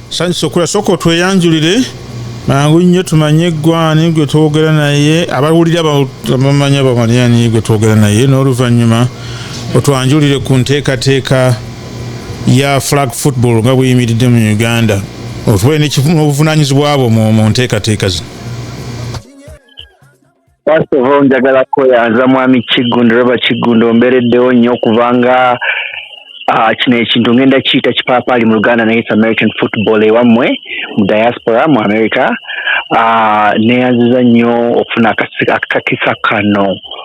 sanyusa okula sooka otweyanjulire mangu nnyo tumanye eggwani gwe twogera naye abawulira bamanya bamaliani gwe twogera naye n'oluvannyuma otwanjulire ku nteekateeka ya flag football nga buyimiridde mu uganda otubale n'obuvunanyizibwa bwo mu nteekateeka zino first of all njagala kweyanza mwami kiggundu roba kiggundu ombereddewo nnyo okubanga ah, kino ekintu ngenda kiyita kipaapaali mu luganda naye american football ewammwe mu diaspora mu america ah, neyanziza nnyo okufuna akakisa kano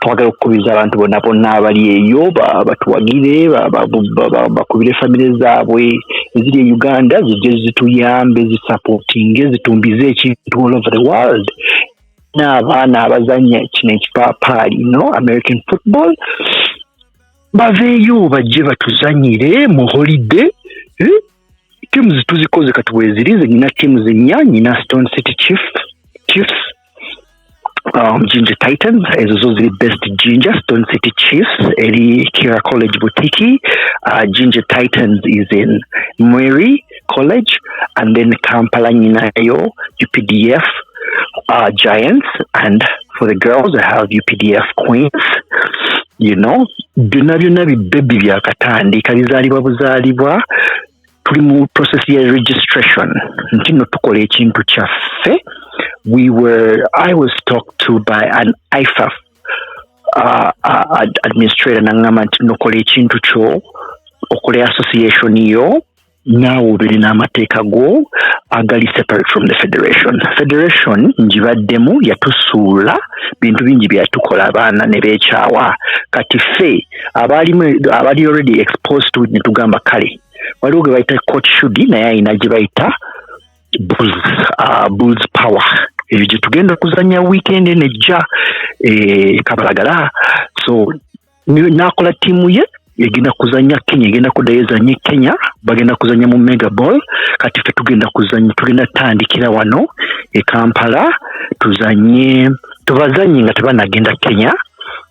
twagala okukubiriza abantu bonna bonna abali eyo batuwagire bakubire famire zaabwe eziri e uganda zijje zituyambe zisapootinge zitumbize ekintu all over the world n'abaana abazanya kino ekipaapaali no american football baveeyo bajje batuzanyire mu holide eh? tiimu zituzikoze kati bweziri ze nyina tiimu zennya nyina stone city chiefs um, Ginger Titans ezo zo ziri best Ginger Stone City Chiefs eri Kira College Butiki uh, Ginger Titans is in Mweri College and then Kampala Nyinayo UPDF uh, Giants and for the girls I have UPDF Queens you know byonna byonna bibbebi byakatandika bizaalibwa buzaalibwa tuli mu process ya registration nti no tukola ekintu kyaffe we were i was talked to by an ifaf uh, uh, administrator nangamba nti nokola ekintu kyo okola association yo naawe obeere n'amateeka go agali separate from the federation federation ngibaddemu yatusuula bintu bingi byeyatukola abaana ne beekyawa kati ffe abaalimu abali already exposed to netugamba kale waliwo gwe bayita court shudi naye alina gye bayita bulls uh, bulls power ebyo gye tugenda okuzanya weekend eno ejja e, kabalagala so n'akola ttiimu ye egenda kuzanya kenya egenda kudayo ezanye kenya bagenda kuzanya mu mega ball kati fe tugenda kuzanya tugenda tandikira wano e kampala tuzanye tubazanye nga tebanagenda kenya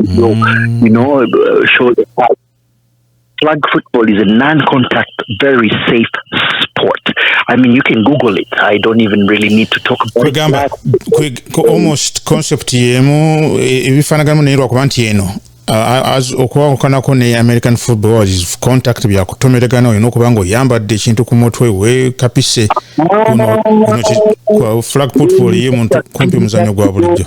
your, mm. you know, uh, shoulder pads. Flag football is a non-contact, very safe sport. I mean, you can Google it. I don't even really need to talk about Kugamba, it. Kwe, almost concept yemu ebifanagano naye lwakuba nti eno uh, okuwakukanako ne american football is contact byakutomeregana olina okuba nga oyambadde ekintu ku mutwe wekapise kuno flag football ye muntu kumpi muzanyo gwa bulijjo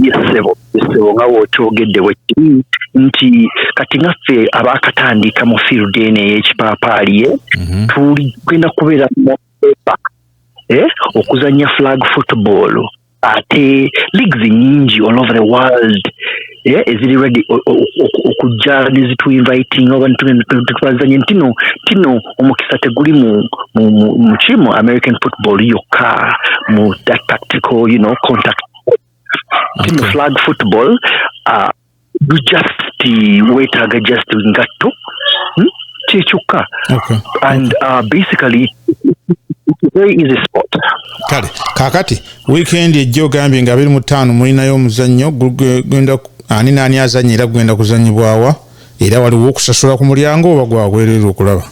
yesebo yesebo nga wokyogedde bwekiri nti kati ngaffe abakatandika mu field eno eyekipaapaaliye mhm. tuli genda kubeera mueba eh, okuzanya flag football ate leagues nyingi all over the world eh, eziri ready okujja nezituinviting oba netubazanye ntino tino omukisa teguli mukimu american football yokka mu that tactical you know contact tino flag football uh, you just wetaaga just ngatto hmm? kyekyokka and uh, basically very easy spot kale kakati wiikendi ejja ogambye nga abiri mu ttaano mulinayo omuzannyo gugenda ani naani azannya era gugenda kuzannyibwawa era waliwo okusasula ku mulyango oba gwabwereere okulaba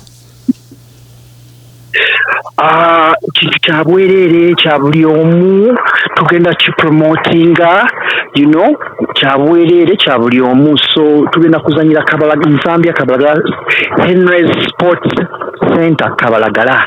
ah, kintu kya bwereere kya buli omu tugenda kipromotinga you know kya bwereere kya buli omu so tugenda kuzannyira kabala zambia kabala henrys sports center kabalagala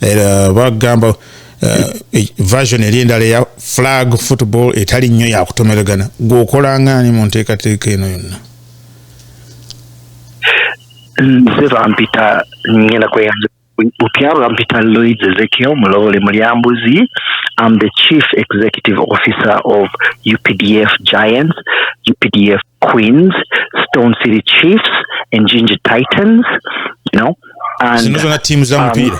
era bagamba eh, e, version eri endala eya flag football etali nnyo yakutomeregana gweokolangaani mu nteekateeka eno yonna nze bampita ngenda kweyanza bupya bampita loid ezekiel mulowole mulyambuzi am the chief executive officer of updf giants updf queens stone city chiefs and ginger titans you know zino zona tiimu za um, mupiira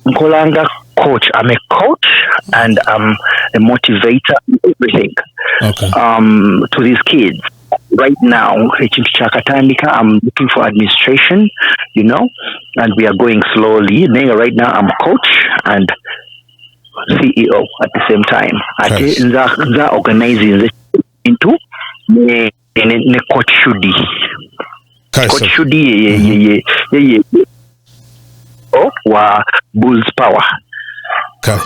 nkolanga coach i'm a coach and i'm a motivator everything okay. um, to these kids right now ekintu kyakatandika i'm looking for administration you know and we are going slowly naye right now i'm coach and ceo at the same time ate nza organize nze into ne, ne coach shudi Kale coach sorry. shudi ye ye ye ye, ye, ye, ye oh, wa bulls power kale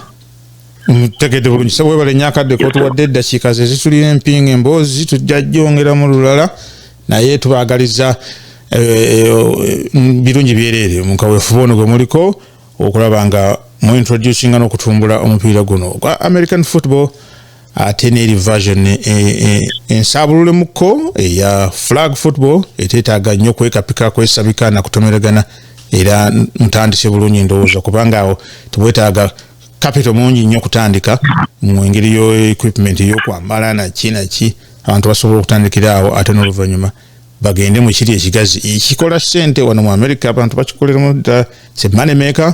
mutegedde bulungi sebo webale nnyo akadde kotuwadde eddakiika ze zitulira empinga emboozi tujja jongeramu lulala naye tubaagaliza eh, eh, mm, birungi byereere mu kaweefube ono gwe muliko okulaba nga mu introducinga n'okutumbula omupiira guno ogwa american football ate n'eri version eh, eh, ensabululemu-ko eya flag football eteetaaga nnyo kwekapika kwesabika na kutomeragana era mutandise bulungi ndowooza kubanga awo tebwetaaga kapito mungi nnyo kutandika mu engeri yo equipment yokwambala naki naki abantu basobola okutandikira awo ate n'oluvannyuma bagende mu kiri ekigazi ekikola ssente wano mu amerika abantu bakikoleramu dda se money maker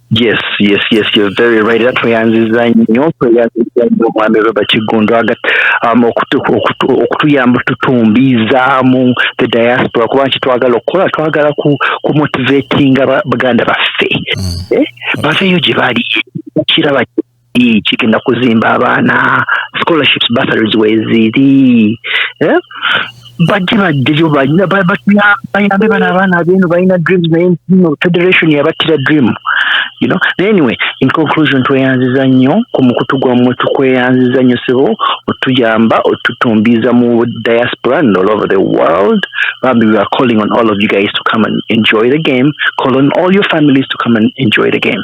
yes yes yes you're very right era tweyanziza nnyo tweyanziza nnyo omwami robert kiggundu aga um, okutuyamba tutumbiizaamu the diaspora kuba nti twagala okukola twagala kumotivatinga baganda baffe mm. eh, baveeyo gye bali kiraba kigenda kuzimba abaana scholarships bursaries weziri eh? bajje bajjeyo bayambe bana abaana abeeno balina dreams naye no federation yabattira dream you know anyway in conclusion tweyanziza nnyo ku mukutu gwammwe tukweyanziza nnyo sebo otuyamba otutumbiiza mu diaspora and all over the world bambi we are calling on all of you guys to come and enjoy the game call on all your families to come and enjoy the game